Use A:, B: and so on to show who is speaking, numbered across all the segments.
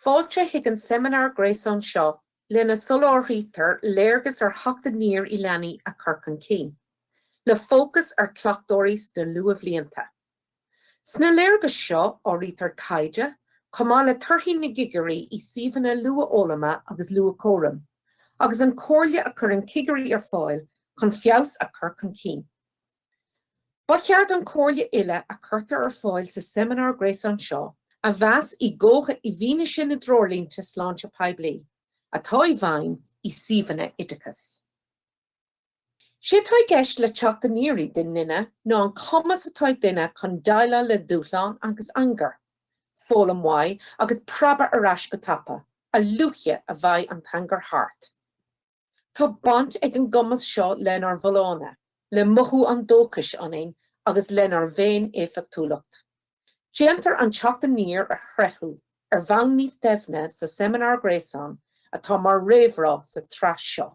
A: Fáilte chuig an seimineár gréasáin seo lena soláthraítear léargas ar theacht aniar i leanaí a chur chun cinn, le fócas ar chleachtóirí sna luathbhlianta. Sna léargais seo áirítear taighde, chomh maith le torthaí na gcigirí i suíomhanna luathfhoghlama agus luathchúraim, agus an comhairle a chuireann cigirí ar fáil chun feabhas a chur chun cinn. Ba cheart an chomhairle uile a chuirtear ar fáil sa seimineár gréasáin seo a mheas i gcónaí i bhfianaise na dtreoirlínte sláinte poiblí atá i bhfeidhm i suíomhanna oideachais. Sé tá i gceist le Teacht Aniar i nduine ná an cumas atá ag duine chun deighleáil le dúshlán agus angar, foghlaim uaidh agus preabadh ar ais go tapa, a luaithe a bheidh an t-angar thart. Tá baint ag an gcumas seo lenár bhfolláine, le mothú an dóchais ionainn agus lenár bhféin-éifeachtúlacht. Déantar an Teacht Aniar a thréithriú ar bhonn níos doimhne sa Seimineár Gréasáin atá mar réamhrá sa tsraith seo.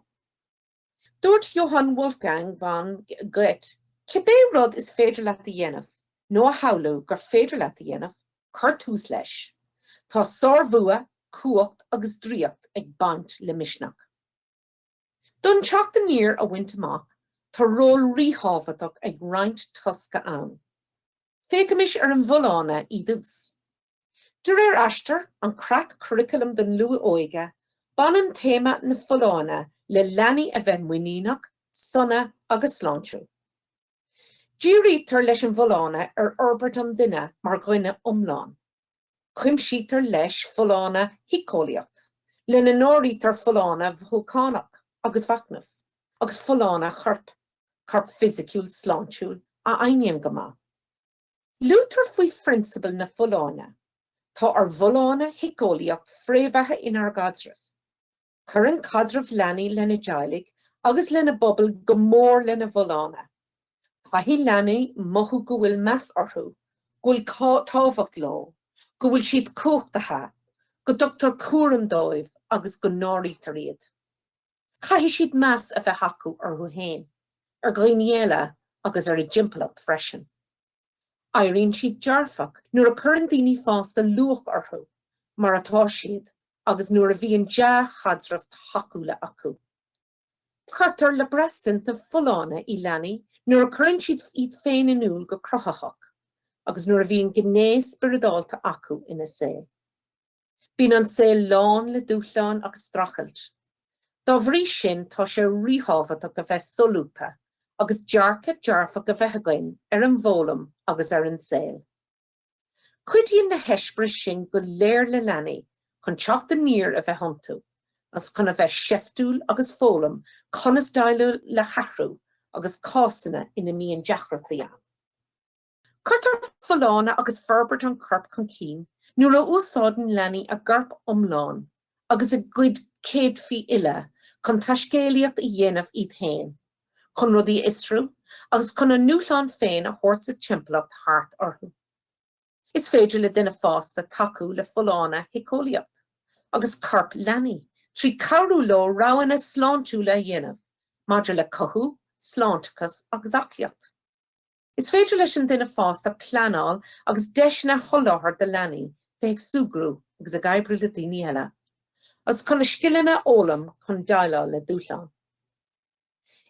A: Dúirt Johann Wolfgang von Goethe, Cibé rud is féidir leat a dhéanamh, nó a shamhlú gur féidir leat a dhéanamh, cuir tús leis. Tá sárbhua, cumhacht agus draíocht ag baint le misneach. D'fhonn teacht aniar a bhaint amach, tá ról ríthábhachtach ag roinnt tosca ann. Féachaimis ar an bhfolláine i dtús. De réir Aistear, an creat curaclaim don luath-óige, baineann téama na folláine le leanaí a bheith muiníneach, sona agus sláintiúil. Dírítear leis an bhfolláine ar fhorbairt an duine mar dhuine iomlán. Cuimsítear leis folláine shíceolaíoch, lena n-áirítear folláine mhothúchánach agus mhachnaimh, agus folláine choirp, corp fisiciúil sláintiúil a fheidhmíonn go maith. Luaitear faoi phrionsabail na folláine, Tá ár bhfolláine shíceolaíoch fréamhaithe inár gcaidrimh. Cuireann caidreamh leanaí lena dteaghlaigh agus lena bpobail go mór lena bhfolláine. Caithfidh leanaí mothú go bhfuil meas orthu, go bhfuil tábhacht leo, go bhfuil siad cumhachtaithe, go dtugtar cúram dóibh agus go n-áirítear iad. Caithfidh siad meas a bheith acu orthu féin, ar dhaoine eile agus ar a dtimpeallacht freisin. Éiríonn siad dearfach nuair a cuireann daoine fásta luach orthu mar atá siad agus nuair a bhíonn dea-chaidrimh thacúla acu. Cuirtear le braistint na folláine i leanaí nuair a cuireann siad iad féin in iúl go cruthaitheach agus nuair a bhíonn gné spioradálta acu ina saol. Bíonn an saol lán le dúshlán agus streachailt. Dá bhrí sin tá sé ríthábhachtach a bheith solúbtha agus dearcadh dearfach a bheith againn ar an bhfoghlaim agus ar an saol. Cuidíonn na heispéiris sin go léir le leanaí chun teacht aniar a bheith iontu agus chun a bheith seiftiúil agus foghlaim conas déileáil le hathrú agus cásanna ina mbíonn deacrachtaí ann. Cuirtear folláine agus forbairt an choirp chun cinn nuair a úsáideann leanaí a gcorp iomlán agus a gcuid céadfaí uile chun taiscéalaíocht a dhéanamh iad féin, chun rudaí a fhiosrú agus chun a ndúshlán féin a thabhairt sa timpeallacht thart orthu. Is féidir le duine fásta tacú le folláine shíceolaíoch agus coirp leanaí trí cabhrú leo roghanna sláintiúla a dhéanamh maidir le cothú, sláinteachas agus aclaíocht. Is féidir leis an duine fásta pleanáil agus deiseanna a sholáthar do leanaí bheith ag súgradh agus ag oibriú le daoine eile, agus chun scileanna a fhoghlaim chun déileáil le dúshláin.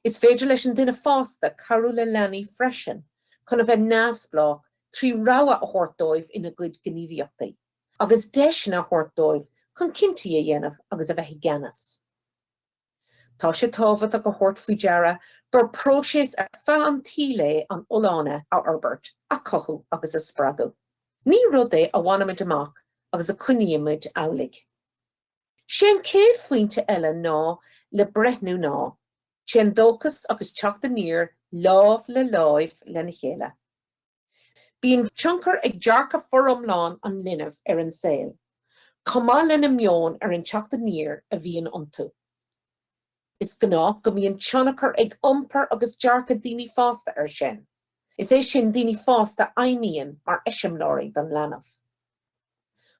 A: Is féidir leis an duine fásta cabhrú le leanaí freisin chun a bheith neamhspleách trí rogha a thabhairt dóibh ina gcuid gníomhaíochtaí, agus deiseanna a thabhairt dóibh chun cinntí a dhéanamh agus a bheith i gceannas. Tá sé tábhachtach a thabhairt faoi deara gur próiseas ar feadh an tsaoil é an fholláine a fhorbairt, a chothú agus a spreagadh. Ní rud é a bhainimid amach agus a choinnímid amhlaidh. 'Sé an chéad phointe eile ná le breithniú ná, téann dóchas agus teacht aniar lámh le lámh lena chéile. Bíonn tionchar ag dearcadh foriomlán an linbh ar an saol, chomh maith lena meon ar an teacht aniar a bhíonn iontu. Is gnách go mbíonn tionchar ag iompar agus dearcadh daoine fásta air sin, is é sin daoine fásta a fheidhmíonn mar eiseamláirí don leanbh.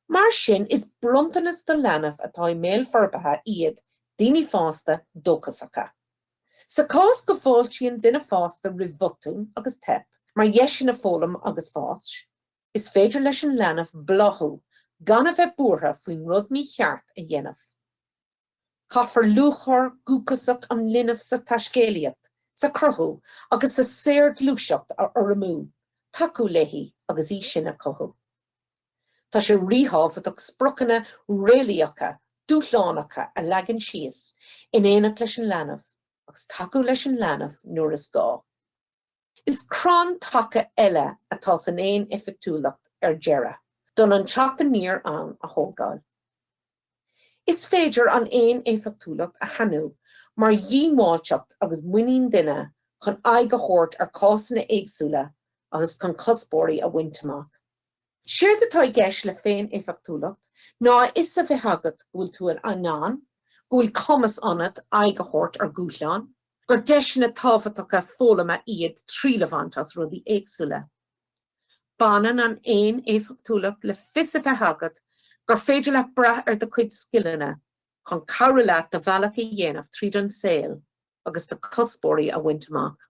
A: Mar sin is bronntanas do leanbh atá i mbéal forbartha iad daoine fásta dóchasacha. Sa chás go bhfáiltíonn duine fásta roimh bhotún agus teip mar dheiseanna foghlaim agus fáis, is féidir leis an leanbh bláthú gan a bheith buartha faoin rud mícheart a dhéanamh. Caithfear lúcháir dhúchasach an linbh sa taiscéalaíocht, sa chruthú agus sa saorghluaiseacht a urramú, tacú léi agus í sin a chothú. Tá sé ríthábhachtach spriocanna réalaíocha, dúshlánacha a leagan síos in éineacht leis an leanbh, agus tacú leis an leanbh nuair is gá. Is crann taca eile atá san fhéin-éifeachtúlacht ar deireadh, d'fhonn an teacht aniar ann a thógáil. Is féidir an fhéin-éifeachtúlacht a shainiú mar dhiongbháilteacht agus muinín duine chun aghaidh a thabhairt ar chásanna éagsúla agus chun cuspóirí a bhaint amach. Séard atá i gceist le féin-éifeachtúlacht ná a fhios a bheith agat go bhfuil tú in ann, go bhfuil cumas ionat, aghaidh a thabhairt ar dhúshláin, gur deiseanna tábhachtacha foghlama iad triail a bhaint as rudaí éagsúla. Baineann an fhéin-éifeachtúlacht le fios a bheith agat gur féidir leat brath ar do chuid scileanna chun cabhrú leat do bhealach a dhéanamh tríd an saol agus do chuspóirí a bhaint amach.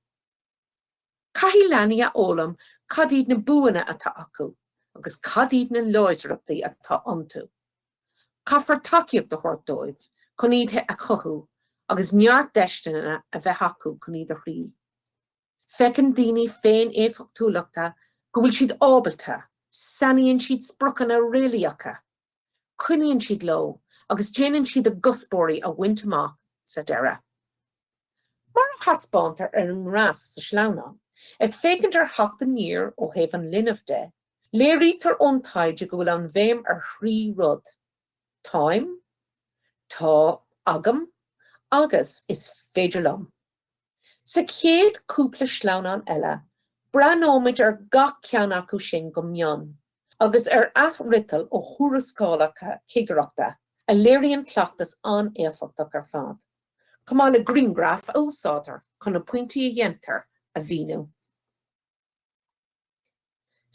A: Caithfidh leanaí a fhoghlaim cad iad na buanna atá acu agus cad iad na láidreachtaí atá iontu. Caithfear tacaíocht a thabhairt dóibh chun iad a chothú agus neart deiseanna a bheith acu chun iad a thriail. Feiceann daoine féin-éifeachtúla go bhfuil siad ábalta, sainíonn siad spriocanna réalaíocha, coinníonn siad leo agus déanann siad a gcuspóirí a bhaint amach sa deireadh. Mar a thaispeántar ar an ngraf sa sleamhnán, ag féachaint ar Theacht Aniar ó thaobh an linbh de, léirítear ón taighde go bhfuil an bhéim ar thrí rud, Táim, Tá agam agus Is féidir liom. Sa chéad chúpla sleamhnán eile, breathnóimid ar gach ceann acu sin go mion, agus ar athfhriotail ó thuarascálacha cigireachta a léiríonn cleachtas an-éifeachtach ar fad. chomh maith le griangraif a úsáidtear chun na pointí a dhéantar a mhíniú.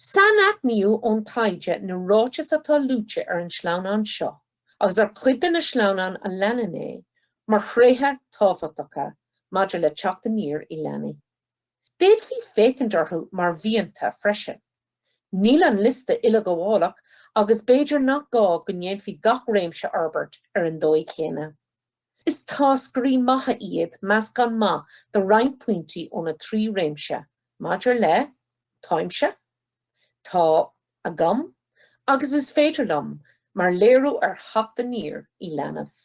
A: Sainaithníodh ón taighde na ráitis atá luaite ar an sleamhnán seo agus ar chuid de na sleamhnáin a leanann é mar thréithe tábhachtacha maidir le teacht aniar i leanaí. D'fhéadfaí féachaint orthu mar mhianta freisin. Níl an liosta uileghabhálach agus b'fhéidir nach gá go ndéanfaí gach réimse a fhorbairt ar an dóigh chéanna. Is táscairí maithe iad meascán maith de roinnt pointí ó na trí réimse maidir le, táimse, tá agam agus is féidir liom, mar léiriú ar theacht aniar i leanbh.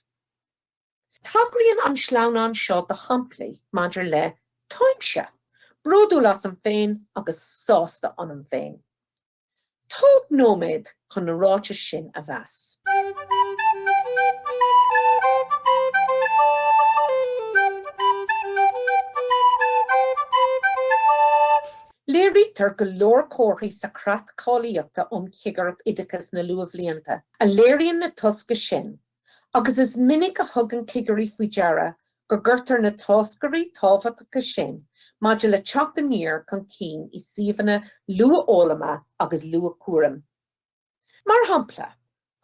A: Tagraíonn an sleamhnán seo do shamplaí maidir le, táimse, bródúil asam féin agus sásta ionam féin. Tóg nóiméad chun na ráitis sin a mheas. Léirítear go leor comharthaí sa Chreat Cáilíochta um Chigireacht Oideachais na Luathbhlianta a léiríonn na tosca sin Agus is minic a thugann cigirí faoi deara go gcuirtear na táscairí tábhachtacha sin maidir le teacht aniar chun cinn i suíomhanna luathfhoghlama agus luathchúraim. Mar shampla,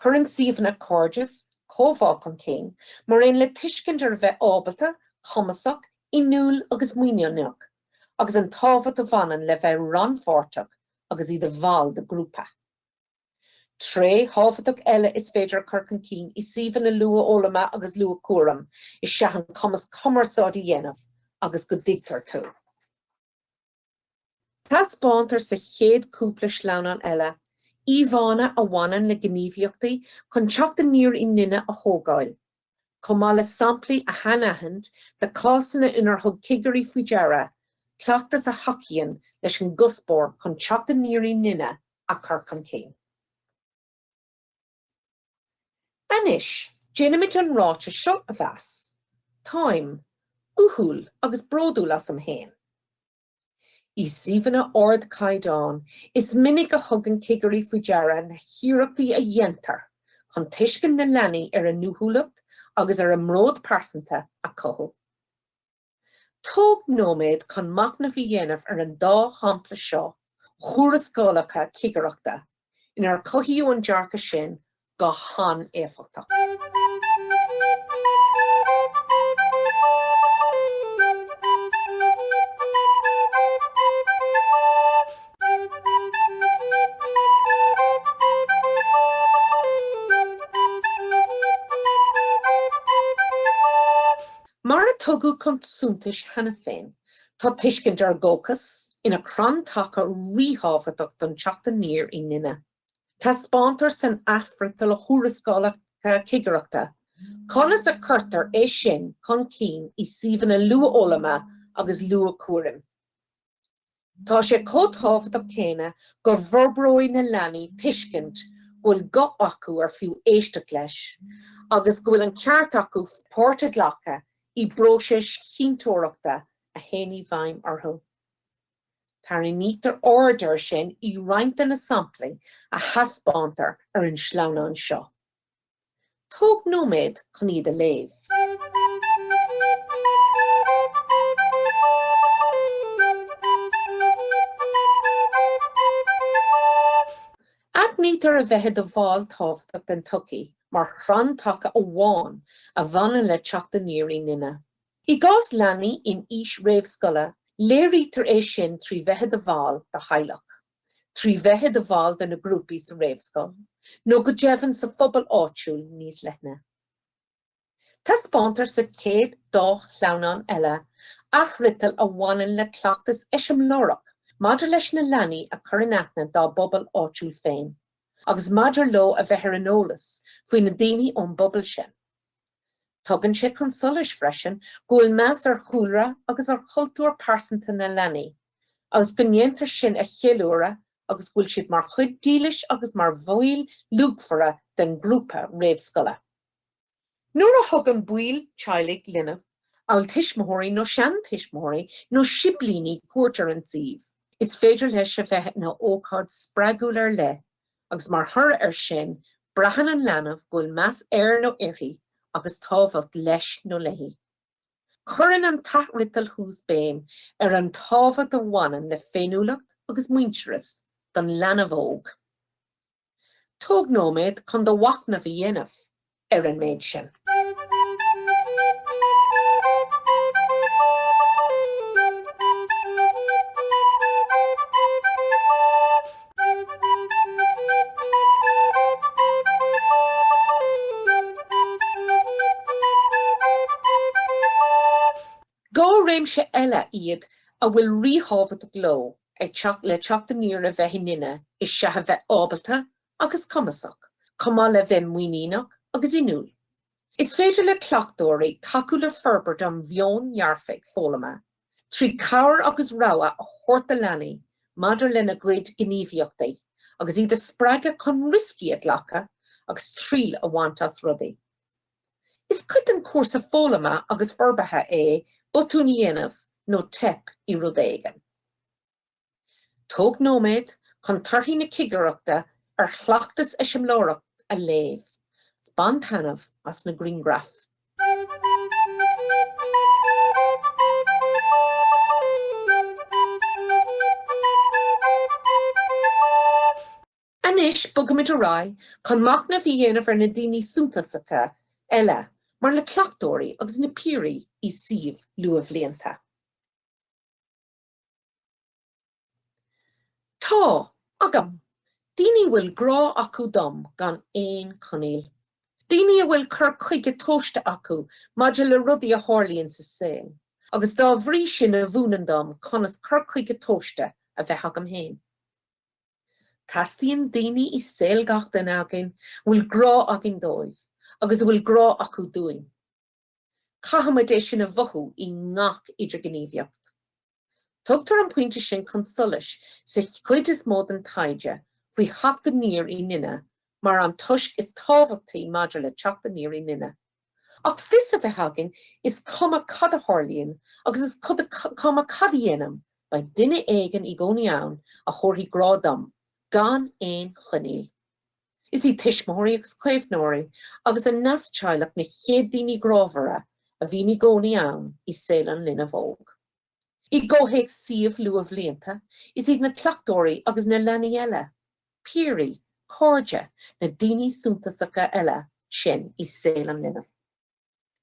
A: cuireann suíomhanna cairdeas comhbhá chun cinn, mar aon le tuiscint ar a bheith ábalta, cumasach, inniúil agus muiníneach, agus an tábhacht a bhaineann le bheith rannpháirteach agus i do bhall de ghrúpa. Tréith thábhachtach eile is féidir a chur chun cinn i suíomhanna luathfhoghlama agus luathchúraim is ea an cumas cumarsáid a dhéanamh agus go dtuigtear tú. Taispeántar sa chéad chúpla sleamhnán eile íomhánna a bhaineann le gníomhaíochtaí chun teacht aniar i nduine a thógáil. chomh maith le samplaí a shainaithint de chásanna inar thug cigirí faoi deara cleachtas a thacaíonn leis an gcuspóir chun teacht aniar i nduine a chur chun cinn. Anois, déanfaimid an ráiteas seo a mheas. Táim uathúil agus bródúil asam féin. I suíomhanna ardchaighdeáin, is minic a thugann cigirí faoi deara na hiarrachtaí a dhéantar chun tuiscint na leanaí ar a n-uathúlacht agus ar a mbród pearsanta a chothú. Tóg nóiméad chun machnamh a dhéanamh ar an dá shampla seo as tuarascálacha cigireachta inar cothaíodh an dearcadh sin go han-éifeachtach. Mar a tugadh chun suntais cheana féin, tá tuiscint ar dhóchas ina crann taca ríthábhachtach don teacht aniar i nduine. Taispeántar san athfhriotal as tuarascálacha cigireachta conas a chuirtear é sin chun cinn i suíomhanna luathfhoghlama agus luathchúraim. Tá sé chomh tábhachtach céanna go bhforbróidh na leanaí tuiscint go bhfuil guth acu ar fiú éisteacht leis agus go bhfuil an ceart acu páirt a ghlacadh i bpróisis chinnteoireachta a théann i bhfeidhm orthu. Tarraingítear aird air sin i roinnt de na samplaí a thaispeántar ar an sleamhnán seo. Tóg nóiméad chun iad a léamh. Aithnítear a bheith i do bhall tábhachtach den tsochaí mar chrann taca amháin a bhaineann le teacht aniar i nduine. I gcás leanaí in aois réamhscoile, léirítear é sin trí bheith i do bhall de theaghlach, trí bheith i do bhall de na grúpaí sa réamhscoil, nó go deimhin sa phobal áitiúil níos leithne. Taispeántar sa chéad dá shleamhnán eile athfhriotail a bhaineann le cleachtas eiseamláireach maidir leis na leanaí a chur in aithne dá bpobal áitiúil féin, agus maidir leo a bheith ar an eolas faoi na daoine ón bpobal sin. Tugann sé chun solais freisin go bhfuil meas ar chúlra agus ar chultúr pearsanta na leanaí agus go ndéantar sin a cheiliúradh agus go bhfuil siad mar chuid dílis agus mar bhaill luachmhara den ghrúpa réamhscoile. Nuair a thugann baill teaghlaigh, linbh, amhail tuismitheoirí nó seantuismitheoirí nó siblíní cuairt ar an suíomh, is féidir leis a bheith ina ócáid spreagúil ar leith agus mar thoradh ar sin braitheann an leanbh go bhfuil meas air nó uirthi agus tábhacht leis nó léi. Cuireann an t-athfhriotal thuas béim ar an tábhacht a bhaineann le féiniúlacht agus muintearas don leanbh óg. Tóg nóiméad chun do mhachnamh a dhéanamh. ar an méid sin. Dhá réimse eile iad a bhfuil ríthábhacht leo le teacht aniar a bheith i nduine is ea a bheith ábalta agus cumasach, chomh maith le bheith muiníneach agus inniúil. Is féidir le cleachtóirí tacú le forbairt an mheoin dhearfaigh foghlama trí cabhair agus rogha a thabhairt do leanaí maidir lena gcuid gníomhaíochtaí agus iad a spreagadh chun rioscaí a ghlacadh agus triail a bhaint as rudaí. Is cuid den chúrsa foghlama agus forbartha é botúin a dhéanamh nó teip i rud éigin. Tóg nóiméad chun torthaí na cigireachta ar chleachtas eiseamláireach a léamh 's bain taitneamh as na grianghraif. Anois bogaimid ar aghaidh chun machnamh a dhéanamh ar na daoine suntasacha eile mar na cleachtóirí agus na piaraí i suíomh luathbhlianta. Tá, agam, daoine a bhfuil grá acu dom gan aon coinníoll. Daoine a bhfuil cur chuige tomhaiste acu maidir le rudaí a tharlaíonn sa saol agus dá bhrí sin a mhúineann dom conas cur chuige tomhaiste a bheith agam fhéin. Teastaíonn daoine i saol gach duine againn a bhfuil grá againn dóibh agus a bhfuil grá acu dúinn. Caithfimid é sin a mhothú i ngach idirghníomhaíocht. Tugtar an pointe sin chun solais sa chuid is mó den taighde faoi Theacht Aniar i nDuine mar an toisc is tábhachtaí maidir le Teacht Aniar i nDuine. Ach fios a bheith againn is cuma cad a tharlaíonn agus is cuma cad a dhéanaim beidh duine éigin i gcónaí ann a thabharfaidh grá dom gan aon choinníoll. Is iad tuismitheoirí agus caomhnóirí agus a neas-teaghlach na chéad daoine grámhara a bhíonn i gcónaí ann i saol an linbh óg. I gcomhthéacs suíomh luathbhlianta, is iad na cleachtóirí agus na leanaí eile, piaraí, cairde, na daoine suntasacha eile sin i saol an linbh.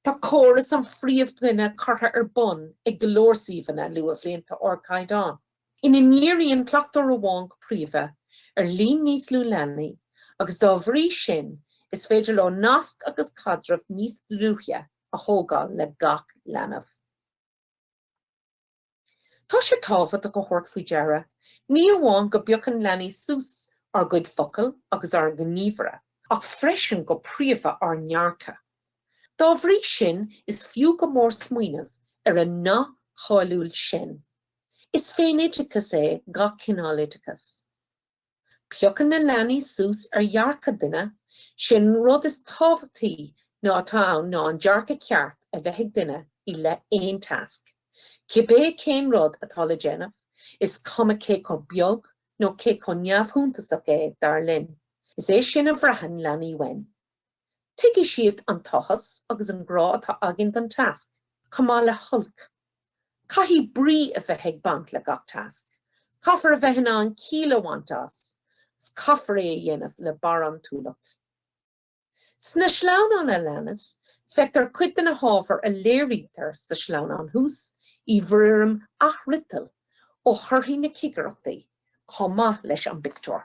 A: Tá córas an phríomhdhuine curtha ar bun ag go leor suíomhanna luathbhlianta ardchaighdeáin ina ndíríonn cleachtóir amháin go príomha ar líon níos lú leanaí agus dá bhrí sin is féidir leo nasc agus caidreamh níos dlúithe a thógáil le gach leanbh. Tá sé tábhachtach a thabhairt faoi deara, ní amháin go bpiocann leanaí suas ár gcuid focal agus ár ngníomhartha, ach freisin go príomha ár ndearcadh. Dá bhrí sin is fiú go mór smaoineamh ar an nath cáiliúil sin, Is féin-oideachas é gach cineál oideachais. Piocann na leanaí suas ar dhearcadh duine, sin an rud is tábhachtaí ná atá ann ná an dearcadh ceart a bheith ag duine i leith aon tasc, cibé cén rud atá le déanamh, is cuma cé chomh beag nó cé chomh neamhshuntasach é, dar linn. Is é sin a bhraitheann leanaí uainn. Tuigfidh siad an t-áthas agus an grá atá againn don tasc, chomh maith le holc. Caithfidh brí a bheith ag baint le gach tasc. Caithfear a bheith in ann ciall a bhaint as, 's caithfear é a dhéanamh le barántúlacht. Sna sleamhnáin a leanas, feictear cuid de na hábhair a léirítear sa sleamhnán thuas, i bhfoirm athfhriotail ó thorthaí na cigireachtaí, chomh maith leis an bpictiúr.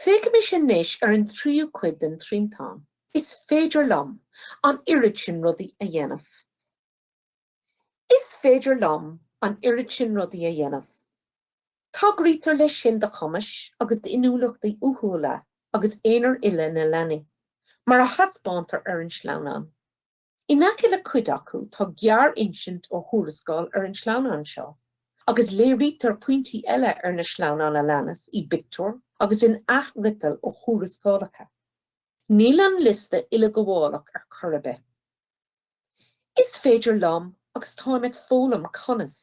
A: Féachaimis anois ar an tríú cuid den triantán. Is féidir liom. an oiread sin rudaí a dhéanamh. Is féidir liom. an oiread sin rudaí a dhéanamh. Tagraítear leis sin do chumais agus d'inniúlachtaí uathúla agus aonair uile na leanaí, mar a thaispeántar ar an sleamhnán. In aice le cuid acu tá gearr-insint ó thuarascáil ar an sleamhnán seo, agus léirítear pointí eile ar na sleamhnáin a leanas, i bpictiúir agus in athfhriotail ó thuarascálacha. Níl an liosta uileghabhálach ar chor ar bith. Is féidir liom agus táim ag foghlaim conas.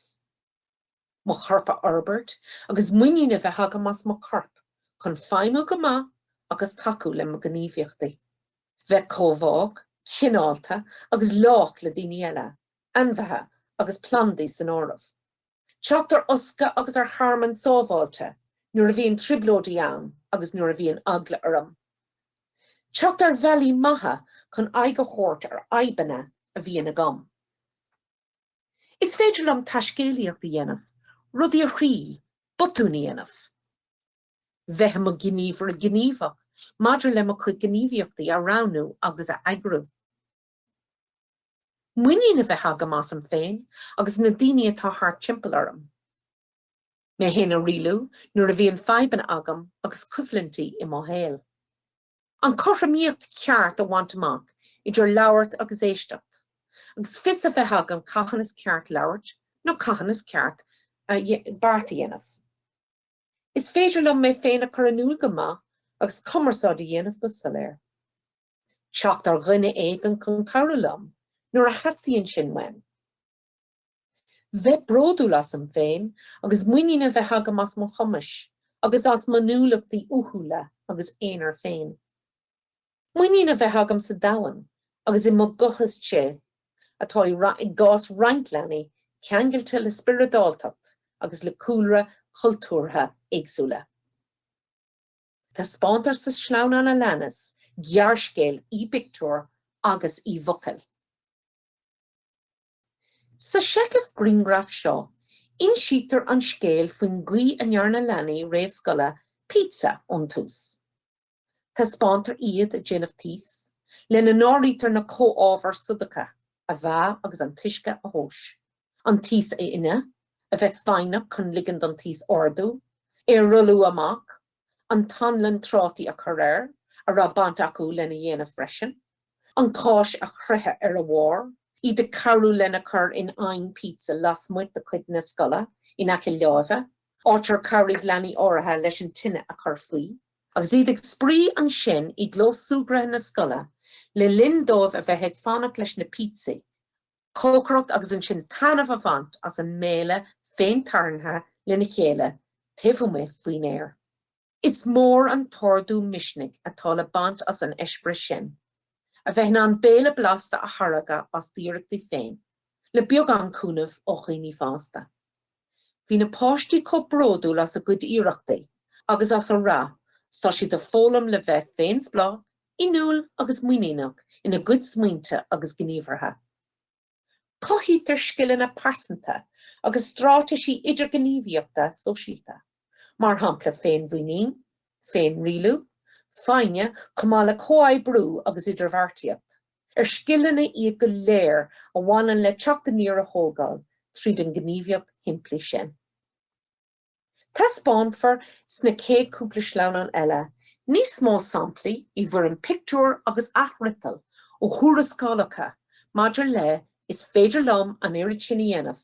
A: mo chorp a fhorbairt agus muinín a bheith agam as mo corp chun feidhmiú go maith agus tacú le mo ghníomhaíochtaí. Bheith comhbhách, cineálta agus lách le daoine eile, ainmhithe agus plandaí san áireamh. Teacht ar fhoscadh agus ar thearmann sábháilte nuair a bhíonn trioblóidí ann agus nuair a bhíonn eagla orm. Teacht ar bhealaí maithe chun aghaidh a thabhairt ar fhadhbanna a bhíonn agam. Is féidir liom taiscéalaíocht a dhéanamh, rudaí a thriail, botúin a dhéanamh. Bheith i mo ghníomhaire gníomhach maidir le mo chuid gníomhaíochtaí a roghnú agus a eagrú. Muinín a bheith agam asam féin agus na daoine atá thart timpeall orm. Mé fhéin a rialú nuair a bhíonn fadhbanna agam agus coimhlintí i mo shaol. An cothromaíocht cheart a bhaint amach idir labhairt agus éisteacht, agus fios a bheith agam cathain is ceart labhairt nó cathain is ceart beart a dhéanamh. Is féidir liom mé féin a chur in iúl go maith agus cumarsáid a dhéanamh go soiléir. Teacht ar dhuine éigin chun cabhrú liom nuair a theastaíonn sin uaim. Bheith bródúil asam féin agus muinín a bheith agam as mo chumais agus as m'inniúlachtaí uathúla agus aonair féin. Muinín a bheith agam sa domhan agus i mo ghuth istigh atá i gcás roinnt leanaí ceangailte le spioradáltacht agus le cúlra cultúrtha éagsúla. Taispeántar sa sleamhnán a leanas gearrscéal i bpictiúir agus i bhfocail. Sa seicheamh grianghraf seo, insítear an scéal faoin gcaoi a ndearna leanaí réamhscoile pizza ón tús. Taispeántar iad ag déanamh taos, lena n-áirítear na comhábhair soladacha a mheá agus an t-uisce a thomhas, an taos a fhuineadh, a bheith foighneach chun ligean don taos ardú, é a rolladh amach, an t-anlann trátaí a chur air a raibh baint acu lena dhéanamh freisin, an cháis a chroitheadh ar a bharr, iad ag cabhrú lena chur in oigheann pizza lasmuigh de chuid na scoile in aice láimhe, áit ar cabhraigh leanaí áirithe leis an tine a chur faoi, agus iad ag spraoi ansin i gclós súgartha na scoile le linn dóibh a bheith ag fanacht leis na píotsaí. cócaireacht agus ansin taitneamh a bhaint as an mbéile féin tarraingthe lena chéile taobh amuigh faoin aer. Is mór an t-ardú misnigh atá le baint as an eispéireas sin, a bheith in ann béile blasta a tháirgeadh as d'iarrachtaí féin, le beagán cúnaimh ó dhaoine fásta. Bhí na páistí chomh bródúil as a gcuid iarrachtaí agus as a rath 's tá siad ag foghlaim le bheith féinspleách, inniúil agus muiníneach ina gcuid smaointe agus gníomhartha. Cothaítear scileanna pearsanta agus straitéisí idirghníomhaíochta sóisialta. mar shampla féinmhuinín, féinrialú, foighne, chomh maith le comhoibriú agus idirbheartaíocht, ar scileanna iad go léir a bhaineann le teacht aniar a thógáil tríd an ngníomhaíocht shimplí sin. Taispeánfar sna chéad chúpla sleamhnán eile níos mó samplaí i bhfoirm pictiúr agus athfhriotail ó thuarascálacha maidir le 'Is féidir liom an oiread sin a dhéanamh',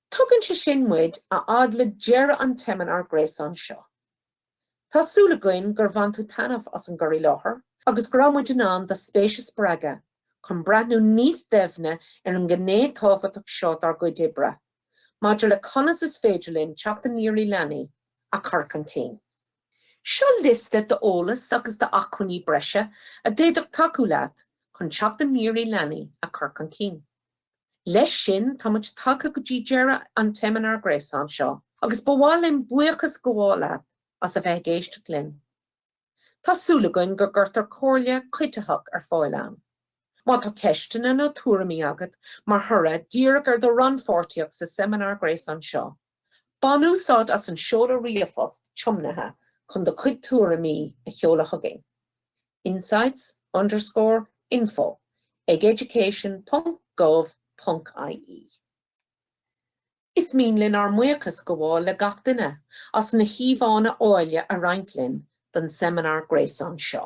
A: Tugann sé sin muid a fhad le deireadh an tseimineár gréasáin seo. Tá súil againn gur bhain tú taitneamh as an gcur i láthair agus go raibh muid in ann do spéis a spreagadh chun breathnú níos doimhne ar an ngné tábhachtach seo dár gcuid oibre maidir le conas is féidir linn teacht aniar i leanaí a chur chun cinn. Seo liosta d'eolas agus d'acmhainní breise a d'fhéadfadh tacú leat chun teacht aniar i leanaí a chur chun cinn. Leis sin táimid tagtha go dtí deireadh an tseimineár gréasáin seo agus ba mhaith linn buíochas a ghabháil leat as a bheith ag éisteacht linn. Tá súil againn gur cuireadh comhairle cuiditheach ar fáil ann. Má tá ceisteanna nó tuairimí agat mar thoradh díreach ar do rannpháirtíocht sa seimineár gréasáin seo, Bain úsáid as an seoladh ríomhphost tiomnaithe chun do chuid tuairimí a sheoladh chugainn, insights underscore info ag education ponc gov ponc ie. Is mian linn ár mbuíochas a ghabháil le gach duine as na híomhánna áille a roinnt linn don seimineár gréasáin seo.